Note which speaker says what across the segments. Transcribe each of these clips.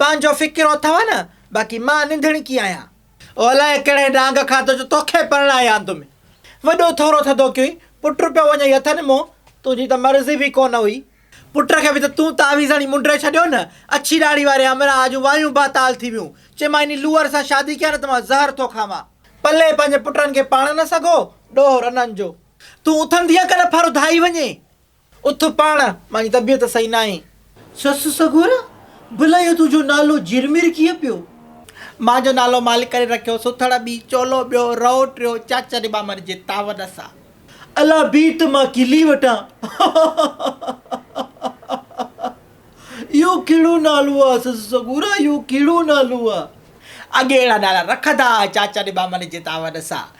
Speaker 1: پنهنجو فڪر اٿئو نه باقي مان ننڌڻڪي آهيان. او الاء ڪهڙي ڏانگ کاڌو جو توکي پرڻائي آندم ۽ وڏو ٿورو ٿڌو ڪيوئي پٽ پيو وڃئي اٿن مون تنهنجي ته مرضي به ڪونه هئي پٽ کي به ته تون تعويذ هڻي منڊري ڇڏيو نه اڇي ڏاڙهي واري همراهه جون وايون باتال ٿي ويون چيمانء انهي لوئر سان شادي ڪيا نه ته مان زهر ٿو کاوان. پلئه پنهنجي پٽن کي پاڻ نه سگهو ڏوهه رنن جو. تون اٿندينء ڪنه ڦر اڌائي وڃي. اٿ پاڻ، مان جي طبيعت صحيح ناهي. سس سڳورا، ڀلا اهو تنهنجو نالو جرمير ڪيئن پيو؟ مان جو نالو مالڪ ڪري رکيو، سٿڙ ٻي، چولو ٻيو، رئو ٽيو، چاچا جي ٻانڀڻ جي تعاون سان. الا بيهه ته مان کلي وٺان. اهو ڪهڙو نالو آ سس سڳورا، اهو ڪهڙو نالو آ؟ اڳي اهڙا نالا رکندا ها، چاچا جي ٻانڀڻ جي تعاون سان.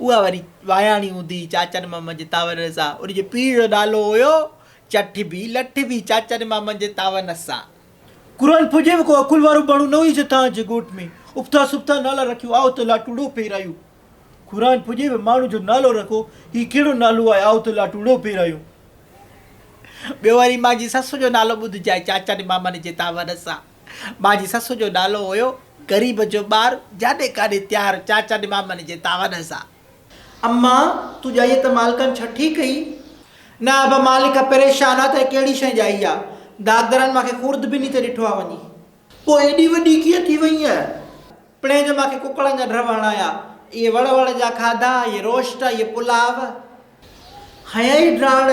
Speaker 1: اها وري واياڻي هوندي هئي چاچن مامن جي تعاون سان. ان جي پيء جو نالو هيو چٺ ڀي. لٺ ڀي چاچن مامن جي تعاون سان. قرآن پڙهجي به ڪو عقل وارو ماڻهو نه هيس تان جي ڳوٺ ۾ ابتا سبتا نالا رکيو آء ته لاٽوڙو پيرايو. قرآن پڙهجي به ماڻهو جو نالو رکو هي ڪهڙو نالو آهي آء ته لاٽوڙو پيرايو. ٻيو وري مانجي سس جو نالو ٻڌجي چاچن مامن جي تعاون سان. ٻا جي سس جو نالو هيو غريب جو ٻار جاڏي ڪاڏي تيار چاچا ڏي مامن جي تاون سا. اما تون ڄائي ته مالڪن ڇٺي ڪئي. نه ابا مالڪ پريشان آ ته هي ڪهڙي شئي ڄائي آ داغدرن مانکي خورد به ني ته ڏٺو آ وڃي. پوء ايڏي وڏي ڪيئن ٿي وئينء. پڻهين جو مانکي ڪڪڙن جا ڍرو هڻايا اهي وڙ وڙ جا کاڌا اهي روشٽ اهي پلاء. هنيائي ڊاڙ.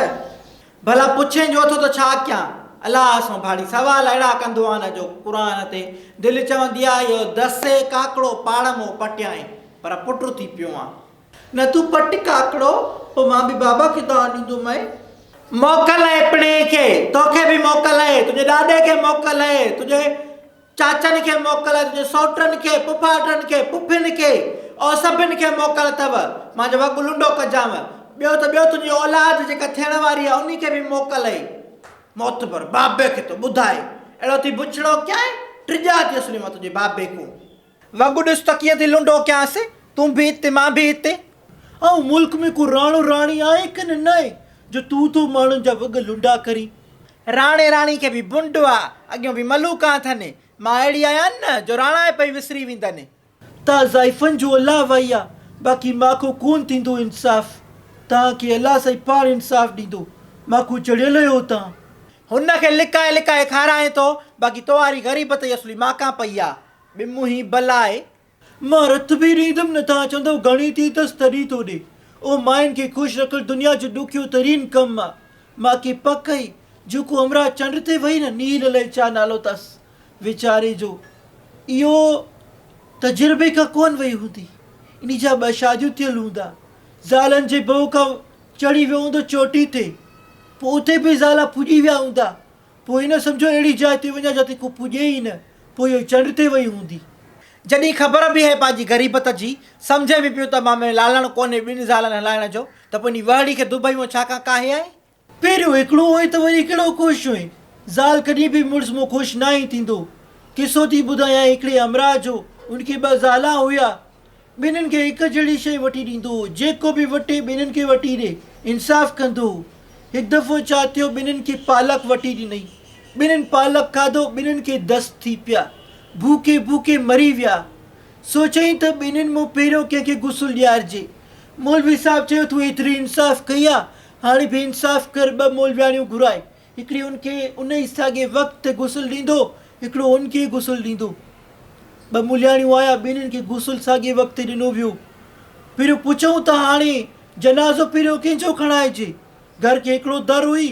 Speaker 1: ڀلا پڇين جو ٿو ته ڇا ڪيان؟ الله سون ڀاڙي سوال اهڙا ڪندو آن جو قرآن تي دل چوندي آ يو دسي ڪاڪڙو پاڙ مون پٽيائين پر پٽ ٿي پيو آن. نه تون پٽ ڪاڪڙو پوء مان به بابا کي دانهن ڏيندومئين. موڪل اهي پڻهي کي، توکي به موڪل اهي، تنهنجي ڏاڏي کي موڪل اهي، تنهنجي. چاچن کي موڪل اٿس، سئوٽن کي، پڦاٽن کي، پڦين کي، او سڀن کي موڪل اٿئو، مان جو وڳ لنڊو ڪجانء، ٻيو ته ٻيو تنهنجي اولاد جيڪا ٿيڻ واري آهي انهي کي به موڪل اٿئي. معتبر، بابي کي ٿو ٻڌائي، اهڙو ٿي بڇڙو ڪيانء، ڊڄا ٿي اسلي مان تنهنجي بابي کون. وڳ ڏس ته ڪيئن ٿي لنڊو ڪيانس، تون به هتي مان به هتي. آئون ملڪ ۾ ڪو راڻو راڻي آهي ڪنه ناهي جو تون ٿو ماڻهن جا وڳ لنڊا ڪرين، راڻي راڻي کي به بنڊ آ، اڳيون به ملوڪا اٿن. مان اهڙي آهيان نه، جو راڻا پئي وسري ويندن. تا زائفن جو الله وائي آ، باقي ماکو ڪون ٿيندو انصاف. تان کي الله سائين پاڻ انصاف ڏيندو. ماکو چڙهيل اهي اتان. هن کي لڪائي لڪائي کارائين ٿو، باقي توهاري غريبت ئي اصلي ماکان پئي آ. ٻه منهين بلا آهي، مان رٿ به ڏيندم نه تان چوندو گهڻي ٿي اٿس تڏهن ٿو ڏي. او ماين کي خوش رکڻ دنيا جو ڏکيو ترين ڪم آ. ماکي پڪ هئي جو ڪو همراهه چنڊ تي وهي نه نيل الائي ڇا نالو تس ويچاري جو اهو تجربي کان ڪون وئي هوندي. انهي جا ٻه شاديون ٿيل هوندا. زالن جي ڀؤ کان چڙهي ويو هوندو چوٽي تي. پوء اتي به زالا ڦڄي ويا هوندا. پوء نه سمجهو اهڙي جاء تي وڃان جتي ڪو پڄي ئي نه، پوء اهي چنڊ تي وئي هوندي. جڏهن خبر به هئي پنهنجي غريبت جي، سمجهي به پيو ته مان ۾ لالڻ ڪونهي ٻن زالن هلائڻ جو، ته پنهنجي وهڙي کي دبئي مان ڇا ڪان ڪاهي آئين؟ پهريون هڪڙو هئين ته وري ڪهڙو خوش هئين؟ زال ڪڏهن به مڙس مان خوش ناهين ٿيندو. قصو ٿي ٻڌايانء هڪڙي همراهه جو، ان کي ٻه زالا هيا. ٻنهين کي هڪ جهڙي شيء وٺي ڏيندو هو، جيڪو به وٺي ٻنهين کي وٺي ڏي، انصاف ڪندو هو. هڪ دفعو ڇا ٿيو، ٻنهين کي پالڪ وٺي ڏنئي. ٻنهين پالڪ کاڌو، ٻنهين کي دست ٿي پيا. ڀوکي ڀوکي مري ويا. سوچيائين ته ٻنهين مون پهريون ڪنهن کي غسل ڏيارجي. مولوي صاحب چيو، تون ايتري انصاف ڪئي آ، هاڻي به انصاف ڪر، ٻه مولوياڻيون گهرائي. هڪڙي ان کي ان ئي ساڳئي وقت تي غسل ڏيندو، هڪڙو ان کي غسل ڏيندو. ٻه ملهياڻيون آيا، ٻنهين کي غسل ساڳئي وقت تي ڏنو ويو. پھريون پڇئون ته هاڻي جنازو پھريون ڪنھن جو کڻائجي؟ گهر کي هڪڙو در هئي.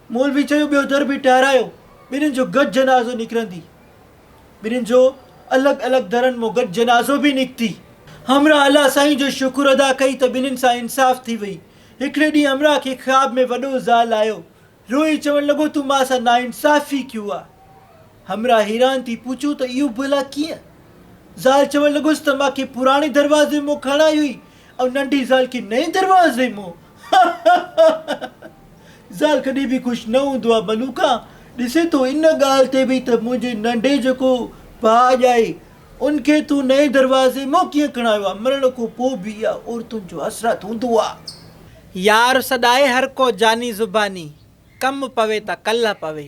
Speaker 1: مولوي چيو ٻيو در به ٺهرايو، ٻنهين جو گڏ جنازو نڪرندي. ٻنهين جو الڳ الڳ درن مان گڏ جنازو به نڪتي. همراهه الله سائين جو شڪر ادا ڪئي ته ٻنهين سان انصاف ٿي وئي. هڪڙي ڏينهن امرا کي خواب ۾ وڏو زال آيو، روئي چوڻ لڳو تون مان سان ناانصافي ڪيو آ. همرا حيران ٿي پڇيو ته اهو ڀلا ڪيئن؟ زال چوڻ لڳس ته مان کي پراڻي دروازي مون کڻائي هئي ۽ ننڍي زال کي نئين دروازي مون زال ڪڏهن به خوش نه هوندو آ ملوڪا ڏسين ٿو ان ڳالهه تي به ته منهنجي ننڍي جيڪو ڀاء ڄائي ان کي تون نئين دروازي مون ڪيئن ڪڻايو آ. مرڻ کون پوء به اها عورتن جو حسرت هوندو آ. يار سڏائي هر ڪو جاني زباني، ڪم پوي ته ڪلهه پوي.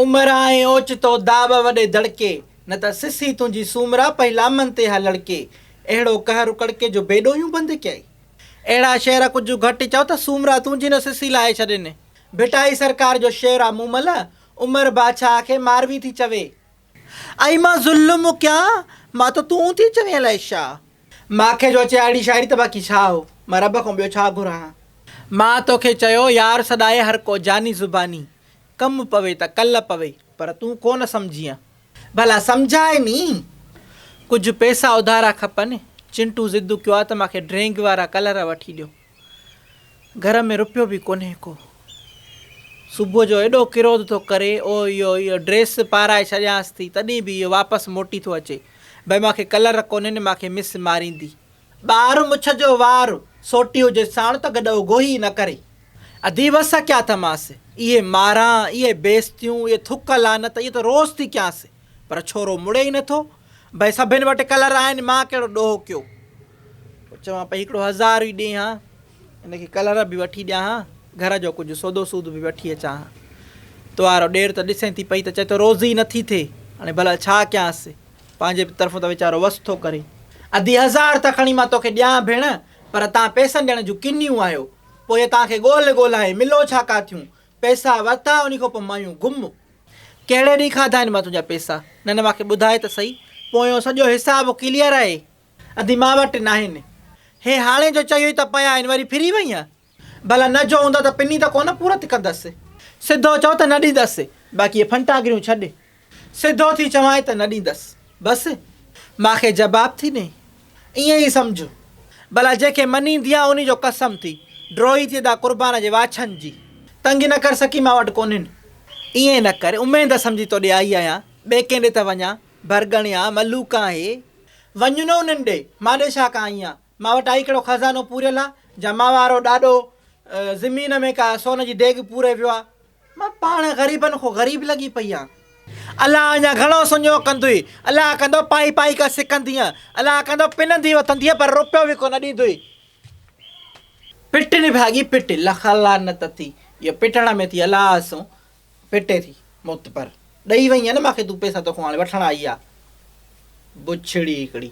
Speaker 1: عمر آئين اوچتو داٻ وڏي دڙڪي، نه ته سسي تنهنجي سومرا پئي لامن تي ها لڙڪي. اهڙو قهر اڪڙڪي جو بي ڏوهيون بند ڪيائي. اهڙا شعر ڪجهه گهٽ چئو ته سومرا تنهنجي نه سسي لاهي ڇڏين. ڀٽائي سرڪار جو شعر آ مومل، عمر باڇاهه کي ماروي ٿي چوي. اي مان ظلم ڪيان مان ته تون ٿي چوين الائي ڇا. مان کي جو اچي اھڙي شاعري ته باقي ڇا ھو مان رب کان ٻيو ڇا گھران ھا. مان توکي چيو يار سڏائي ھرڪو جاني زباني ڪم پوي ته ڪل پوي پر تون ڪونه سمجھينء. ڀلا سمجھاء ني. ڪجھ پيسا اڌارا کپن چنٽو ضد ڪيو آ ته مان کي ڊرينگ وارا ڪلر وٺي ڏيو. گهر ۾ رپيو به ڪونهي ڪو. صبح جو ايڏو ڪروڌ ٿو ڪري او اهو اهو ڊريس پارائي ڇڏيانس ٿي تڏهن به اهو واپس موٽي ٿو اچي بئي مان کي ڪلر ڪونهين مان کي مس ماريندي. ٻار مڇ جو وار سوٽي هجي ساڻ ته گڏ اوگهو ئي نه ڪري. ادي وس ڪيا ٿمانس اهي ماران اهي بيستيون اهي ٿڪ لعنت اهي ته روز ٿي ڪيانس. پر ڇورو مڙي ئي نه ٿو. ڀئي سڀن وٽ ڪلر آهن، مان ڪهڙو ڏوهڪيو چوان پئي هڪڙو هزار ئي ڏي هان، ان کي ڪلر به وٺي ڏيان هان، گهر جو ڪجهه سودو سود به وٺي اچان هان. توهارو ڏير ته ڏسين ٿي پئي ته چئي ٿو روزي ئي نٿي ٿئي، هاڻي ڀلا ڇا ڪيانس، پنهنجي به طرفون ته ويچارو وس ٿو ڪري. ادي هزار ته کڻي مان توکي ڏيان ڀيڻ، پر تان پئسن ڏيڻ جون ڪنيون آهيو، پوء تان کي ڳولهه ڳولهائي ملو ڇا ڪا ٿيون، پئسا ورتا انهي کان پوء مايون گم. ڪهڙي ڏينهن کاڌا آهن مان تنهنجا پئسا؟ نه نه ماکي ٻڌاء ته سهي. پويون سڄو حساب ڪليئر آهي. ادي مان وٽ ناهن. هي هاڻي جو چيوئي ته پيا آهن وري ڦري وئينء؟ ڀلا نه جو هوندا ته پني ته ڪونه پورت ڪندس. سڌو چئو ته نه ڏيندس. باقي هي ڦنٽاگريون ڇڏ. سڌو ٿي چوانء ته نه ڏيندس. بس! مان کي جباب ٿي ڏئين؟ ائين ئي سمجهه. ڀلا جنهن کي مڃيندي آن انهي جو قسم ٿي ڊوهي ٿي ادا قربان جي واڇن جي. تنگي نه ڪر سڪي مان وٽ ڪونهين. ائين نه ڪر اميد سمجهي تو ڏي آئي آهيان. ٻئي ڪنهن ڏي ته وڃان. ڀرڳڻيا، ملوڪ آهي. وڃ نه انهن ڏي. مان ڏي ڇا ڪان آئي آهيان. مان وٽ آهي ڪهڙو خزانو پوريل آ جا مان وارو ڏاڏو زمين ۾ ڪا سون جي ڊيگهه پوري ويو آ. مان پاڻ غريبن کان غريب لڳي پئي آهيان. الله اڃا گهڻو سڃو ڪندوئي. الله ڪندو پائي پائي ڪا سڪندينء. الله ڪندو پنندينء وتندينء پر روپيو به ڪونه ڏيندوئي. پٽ نڀاڳي پٽ لک لعنت اٿي. اهو پٽڻ ۾ ٿي الله سون پٽي ٿي معتبر. ڏئي وئينء نه مان کي تون پئسا توکان هاڻي وٺڻ آئي آ بڇڙي هڪڙي.